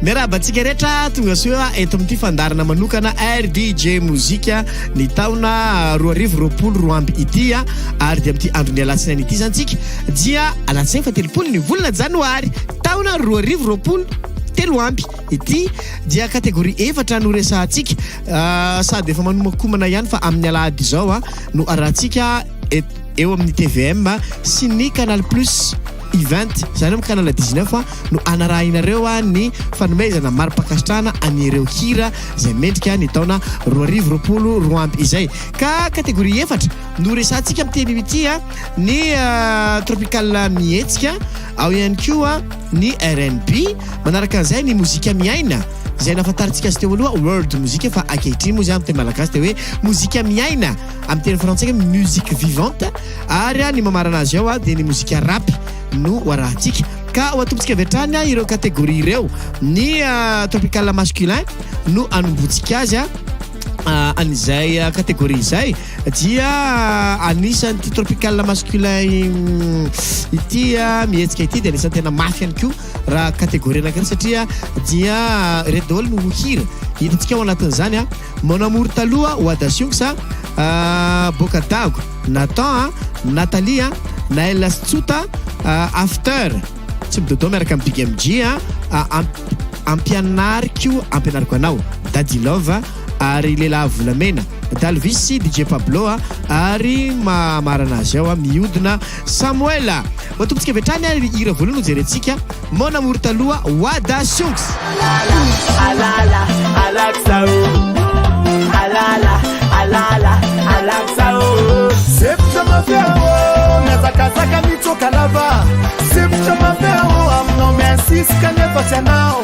Miarahaba antsika rehetra tonga soa eto amin'ity fandarana manokana RDJ Mozika ny taona roa arivo roapolo roa amby ity ary dia amin'ity andron'ny alatsinainy ity izany tsika dia alatsinainy fa telopolo ny volana janoary taona roa arivo roapolo telo amby Ity dia catégorie efatra no resahantsika sady efa manomankomana ihany fa amin'ny alahady izao no arahantsika eo amin'ny tvm sy ny canal plus event izany amin'ny canal 19 no hanarahinareo ny fanomezana mari-pankasitrahana an'ireo hira izay mendrika ny taona roa arivo roapolo roa amby izay ka catégorie efatra no resahantsika amin'ny teny ity ny tropical mihetsika ao ihany koa ny rnb, manaraka an'izay ny mozika miaina izay nahafantarintsika azy teo aloha world mozika fa ankehitriny moa izany amin'ny teny malagasy dia hoe mozika miaina amin'ny teny frantsay hoe musique vivante ary ny mamarana azy ao dia ny mozika rap no hoarahantsika ka ho atombotsika avy hatrany ireo catégorie ireo ny ah, tropical masculin no anombotsika azy ah, an'izay ah, catégorie izay dia anisan'ity tropical masculin ity mihetsika ity dia anisan'ny tena mafy ihany koa raha catégorie anankiray satria dia ireto daholo no hira hitantsika ao anatin'izany a mon amour taloha Wada Sionx a boka dago Nathan a Nathalie a Naël sy Tsota after tsy midodo miaraka amin'ny Big MG a ampianariko ampianariko anao Daddy Love ary lehilahy volamena, Dalvis sy DJ Pablo a, ary maha marina azy ao a, mihodina Samuel a. Matombintsika avy hatrany ary hira voalohany ho jerentsika, Mon amour taloha, Wada Sionx. Alala, alala, alaksa oh Alala, alala, alaksa oh Sempotra mafia oh Miazakazaka mitsoka lava Sempotra mafia oh Aminao mi-insist kanefa tsy anao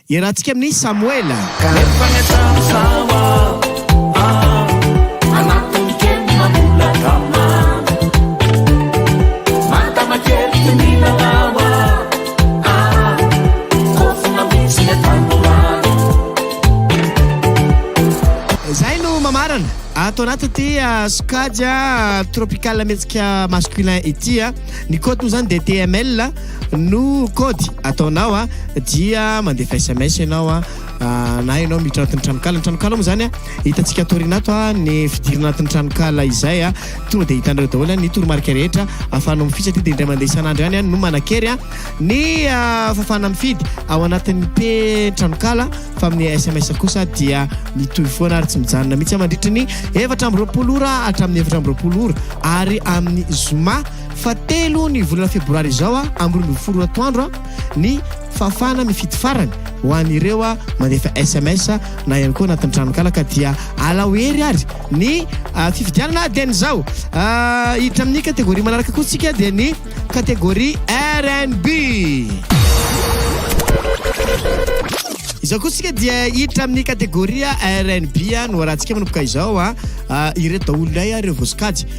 Iarahantsika amin'i Samoela. Zay no mamarana ato anatin'ity ah, sokajy ah, tropical mihetsika masculin ity ah. Ny code moa zany dia TML. no kôdy ataonao a dia mandefa sms ianao a na ianao miditra anatin'ny tranokala ny tranokala moa zany a hitantsika atoriana ato a ny fidirana anatin'ny tranokala izay a tonga dia hitanareo daholo ny toromarika rehetra ahafahanao mifidy satria dia indray mandeha isan'andro ihany no manan-kery a ny fahafahana mifidy ao anatin'ny p tranokala fa amin'ny sms kosa dia mitohy foana ary tsy mijanona mihitsy mandritry ny efatra amby roapolo ora hatramin'ny efatra amby roapolo ora ary amin'ny zoma Fa telo ny volana febroary izao amby roa ambin'ny folo atoandro ny fahafahana mifidy farany ho an'ireo mandefa sms na ihany koa anatin'ny tranonkala ka dia alao hery ary ny ah, fifidianana dia ny zao ah, hiditra amin'ny kategoria manaraka koa tsika dia ny kategoria rnb izao koa tsika dia hiditra amin'ny kategoria rnb no arantsika manomboka izao a ah, ireto daholo ilay ireo voasokajy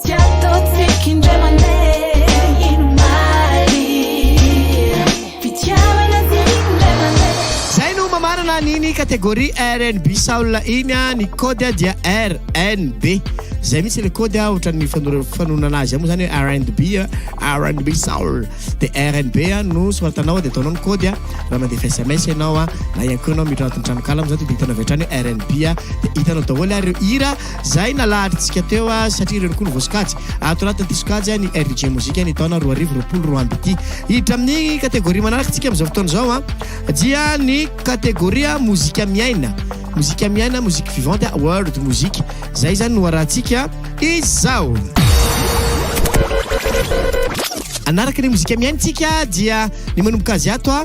Tsy ataontsika indray mandeha inomaly Fitiavana dia indray mandeha Zay no mamarana an'iny catégorie rnb soul iny a, ny code dia rnb, zay mihitsy le code a, ohatran'ny fanora- fanononana azy moa zany hoe rnb a, rnb soul, de rnb a no soratanao de ataonao ny code a, raha mandefa sms ianao a, na ihany koa ianao miditra anatin'ny tranonkala amin'izao de diditanao avy hatrany hoe rnb a, de hitanao daholo ary ireo hira. Zay nalaharintsika teo a, satria ireny koa no voasokajy ato anatin'ity sokajy ny RDJ Mozika ny taona roa arivo roapolo roa amby ity. Hiditra amin'ny kategoria manaraka isika amin'izao fotoana izao a, dia ny kategoria mozika miaina, mozika miaina, musique vivante, world music. Zay izany no harahantsika izao. Hanaraka ny mozika miaina isika dia ny manomboka azy ato a.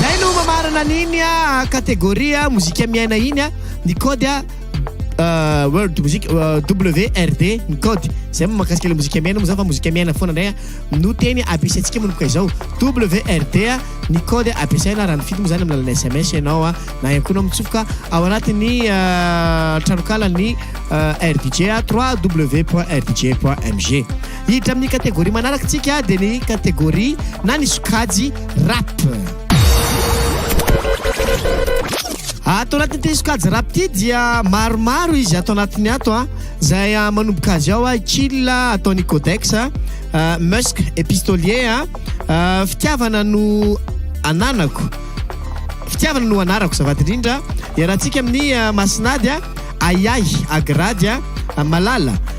Zay no mamarana an'iny catégorie mozika miaina iny ny code World Music WRD ny code zay moa mahakasika ilay mozika miaina moa zany fa mozika miaina foana indray no teny ampiasaintsika manomboka izao WRD ny code ampiasaina raha nifidy moa zany amin'ny alalan'ny SMS ianao na ihany koa ianao mitsofoka ao anatin'ny tranokala ny RDJ www.rdj.mg Hiditra amin'ny kategoria manaraka tsika dia ny kategoria na ny sokajy rap. Ato anatin'ity sokajy rap ity dia maromaro izy ato anatiny ato a. Izay ah, manomboka azy ao a, ah, Chill ah, ataon'i Codex a, Musk et Pistolier a, fitiavana no ananako. Fitiavana no anarako zavady indrindra. Iarahantsika amin'ny Masinady a, Ahiahy, Agrady a, Malala.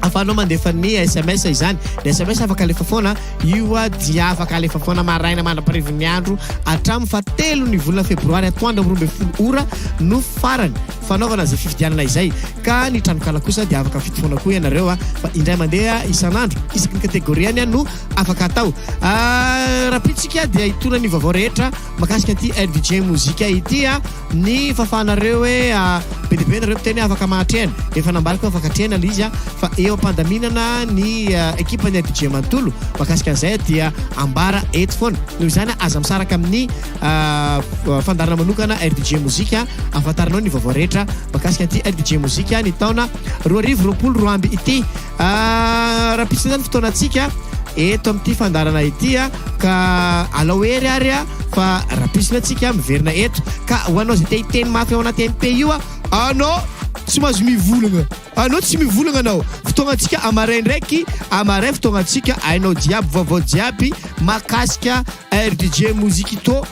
Ahafahanao mandefa ny sms izany. Ny sms afaka alefa foana, io dia afaka alefa foana maraina mandra-parivin'ny andro hatramin'ny fahatelon'ny volana febroary atoandro amin'ny roa ambin'ny folo ora no farany fanaovana izay fifidianana izay. Ka ny tranonkala kosa dia afaka mifidy foana koa ianareo fa indray mandeha isan'andro isaky ny kategoriany no afaka atao. Raha pitsika dia hitoana ny vaovao rehetra. Makasika ity rdj mozika ity a, ny fafanareo hoe be dia be nareo mpiteny afaka mahatrehana, efa nambariko hoe afaka atrehana ilay izy a, fa eo am-pandaminana ny ekipan'ny rdj manontolo makasika an'izay dia ambara eto foana. Noho izany aza misaraka amin'ny fandaharana manokana rdj mozika ahafantaranao ny vaovao rehetra makasika ity rdj mozika ny taona roa arivo roapolo roa amby ity. Ah, rahampitso izany fotoanantsika eto amin'ity fandarana ity a ka alao hery ary a fa rahampitso antsika miverina eto ka ho anao izay te hiteny mafy ao anaty MP io a anao tsy mahazo mivolagna anao tsy mivolagna anao fotoagnantsika amaray ndraiky amaray fotoagnantsika ainao jiaby vaovao jiaby mahakasika rdj mozikito